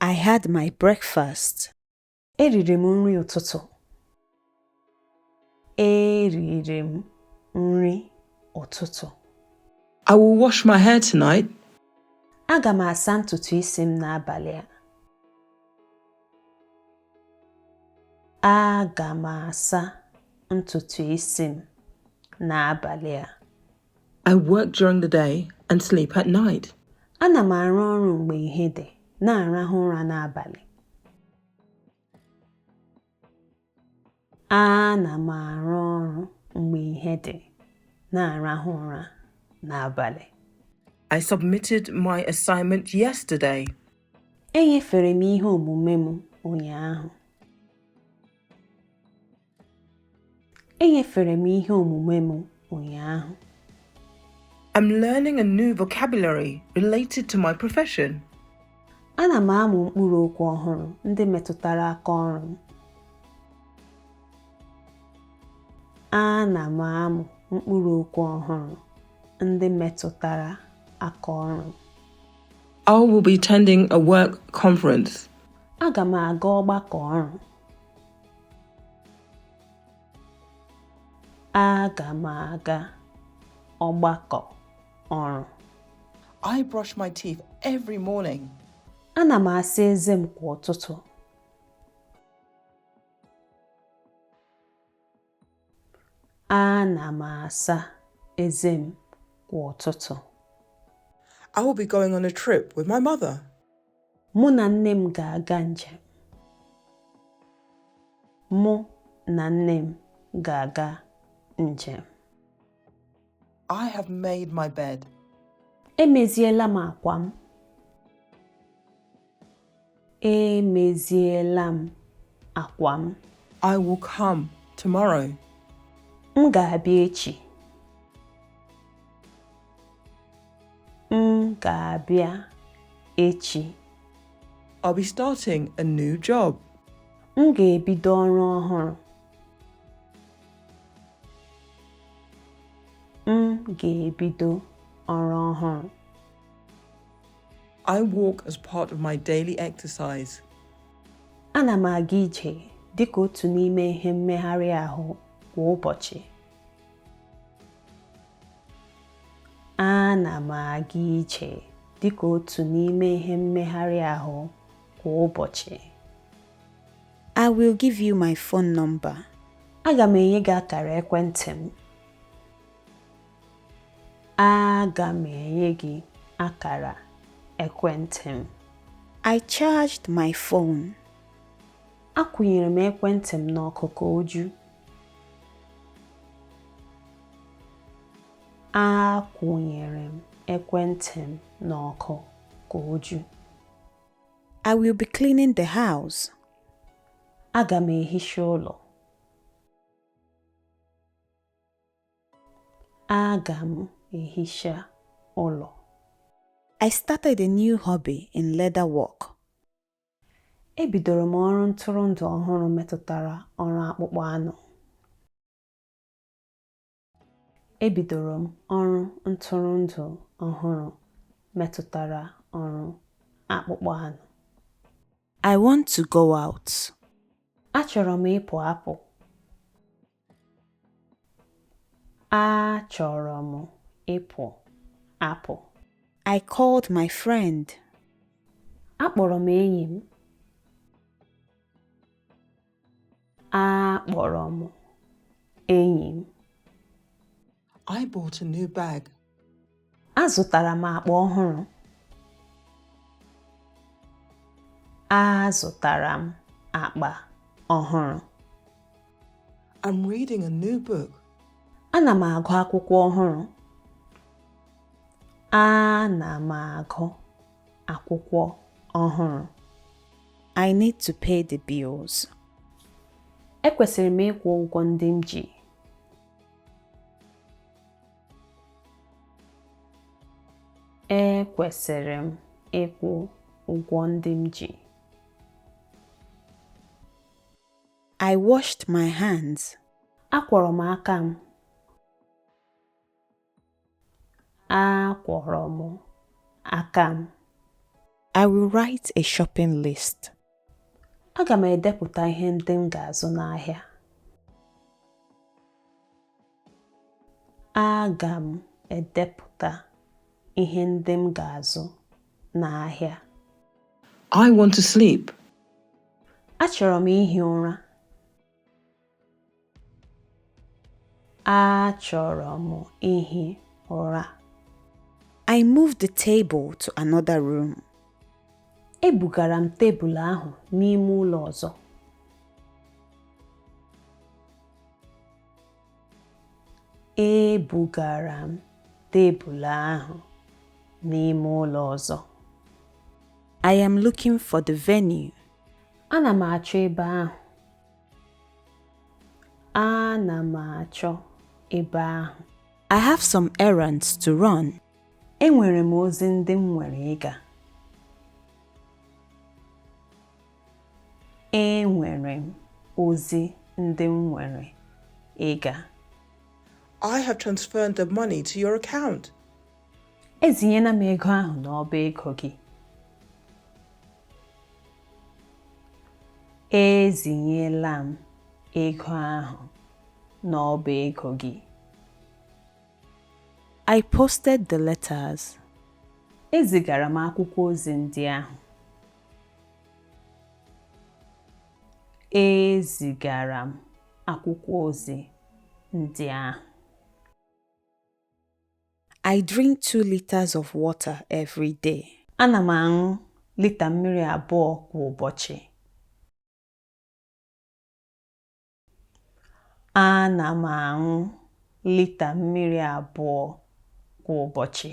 I had my breakfast. Eriri m nri ụtụtụ. Eriri m nri ụtụtụ. I will wash my hair tonight. Aga m asa ntutu isi m n'abalị a. Aga m asa ntutu isi m n'abalị a. I work during the day and sleep at night. Ana m arụ ọrụ mgbe ihe dị, na-arahụ ụra n'abalị. Ana m arụ ọrụ mgbe ihe dị, na-arahụ ụra n'abalị. I submitted my assignment yesterday. Enyefere m ihe omume m ụnyaahụ. Enyefere m ihe omume m ụnyaahụ. I'm learning a new vocabulary related to my profession. Ana m amụ mkpụrụ okwu ọhụrụ ndị metụtara aka ọrụ m. Ana m amụ mkpụrụ okwu ọhụrụ ndị metụtara aka ọrụ m. I will be attending a work conference. Aga m aga ọgbakọ ọrụ. Aga m aga ọgbakọ ọrụ. I brush my teeth every morning. Ana m asa eze m kwa ụtụtụ. Ana m asa eze m kwa ụtụtụ. I will be going on a trip with my mother. Mụ na nne m ga-aga njem. Mụ na nne m ga-aga njem. I have made my bed. Emeziela m akwa m. Emeziela m akwa m. I will come tomorrow. M ga-abịa echi. M ga-abịa echi. I'll be starting a new job. M ga-ebido ọrụ ọhụrụ. M ga-ebido ọrụ ọhụrụ. I walk as part of my daily exercise. Ana m aga ije dị ka otu n'ime ihe mmegharị ahụ kwa ụbọchị. Ana m aga ije dị ka otu n'ime ihe mmegharị ahụ kwa ụbọchị. I will give you my phone number. Aga m enye gị akara ekwentị m. Aga m enye gị akara ekwentị m. I charged my phone. Akwụnyere m ekwentị m n'ọkụ ka o ju. Akwụnyere m ekwentị m n'ọkụ ka o ju. I will be cleaning the house. Aga m ehicha ụlọ. Aga m ehicha ụlọ. I started a new hobby in leather work. Ebidoro m ọrụ ntụrụndụ ọhụrụ metụtara ọrụ akpụkpọ anụ. Ebidoro m ọrụ ntụrụndụ ọhụrụ metụtara ọrụ akpụkpọ anụ. I want to go out. Achọrọ m ịpụ apụ. Achọrọ m ịpụ apụ. I called my friend. Akpọrọ m enyi m. akpọrọ m enyi m I bought a new bag. azụtara m akpa ọhụrụ azụtara m akpa ọhụrụ I'm reading a new book. ana m agụ akwụkwọ ọhụrụ ana m agụ akwụkwọ ọhụrụ. I need to pay the bills. Ekwesịrị m ịkwụ ụgwọ ndị m ji. Ekwesịrị m ịkwụ ụgwọ ndị m ji. I washed my hands. Akwọrọ m aka m. Akwọrọ m aka m. I will write a shopping list. Aga m edepụta ihe ndị m ga-azụ n'ahịa. Aga m edepụta ihe ndị m ga-azụ n'ahịa. I want to sleep. Achọrọ m ihi ụra. Achọrọ m ihi ụra. I moved the table to another room. Ebugara m tebụl ahụ n'ime ụlọ ọzọ. Ebugara m tebụl ahụ n'ime ụlọ ọzọ. I am looking for the venue. Ana m achọ ebe ahụ. Ana m achọ ebe ahụ. I have some errands to run. Enwere m ozi ndị m nwere ịga. Enwere m ozi ndị m nwere ịga. I have transferred the money to your account. Ezinyela m ego ahụ n'ọba ego gị. Ezinyela m ego ahụ n'ọba ego gị. I posted the letters. Ezigara m akwụkwọ ozi ndị ahụ. Ezigara m akwụkwọ ozi ndị ahụ. I drink two liters of water every day. Ana m aṅụ lita mmiri abụọ kwa ụbọchị. Ana m aṅụ lita mmiri abụọ kwa ụbọchị.